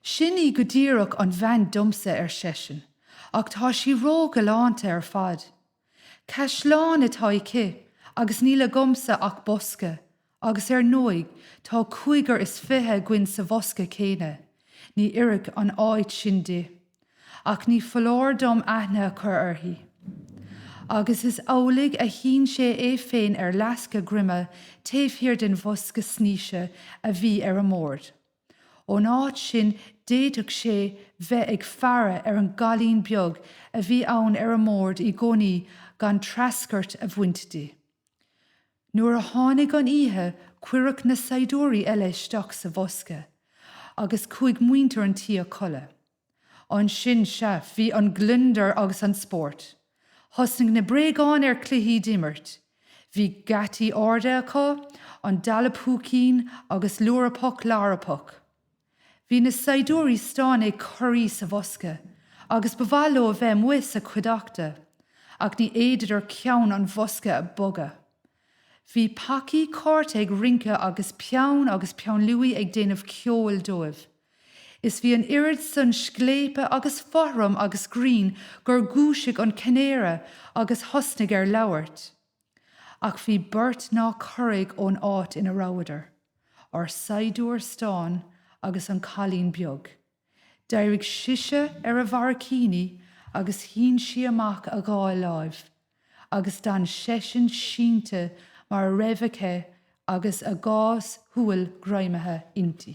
Sin í go díreach an bhean domsa, ar seisean, ach tá sí ró-ghalánta ar fad. Caisleán atá aici agus níl agamsa ach bosca agus ar ndóigh tá cúigear is fiche againn sa bhosca céanna, ní oirfidh an áit sin di. Ach ní foláir dom aithne a chur uirthi. Agus is amhlaidh a shín sé é féin ar fhleasc a dhroma taobh thiar den bhosca snaoise a bhí ar an mbord. Ón áit sin d'fhéadfadh sé bheith ag faire ar an gcailín beag a bhí ann ar an mbord i gcónaí gan treascairt a bhaint di. Nuair a tháinig an oíche cuireadh na saighdiúirí eile isteach sa bhosca agus chuaigh muintir an tí a chodladh. Ansin, sea, bhí an gliondar agus an spórt. Thosnaigh na bréagáin ar cluichí d'imirt. Bhí geataí arda acu, an dalladh-púicín agus lúrapóg lárapóg. Bhí na saighdiúirí stáin ag corraí sa bhosca agus ba mhaith leo a bheith amuigh sa chuideachta, ach ní fhéadadar ceann an bhosca a bhogadh. Bhí pacaí cárta ag rince agus peann agus peann luaidhe ag déanamh ceoil dóibh. Is bhí an oiread san scléipe agus fothraim agus grinn gur dhúisigh an canáraí agus thosnaigh ar labhairt. Ach bhí beirt nár chorraigh ón áit ina rabhadar, ár saighdiúir stáin agus an cailín beag. D'éirigh sise ar a bharraicíní agus shín sí amach a dhá láimh. agus d'fhan seisean sínte mar a raibh aige agus a dhá shúil greamaithe inti.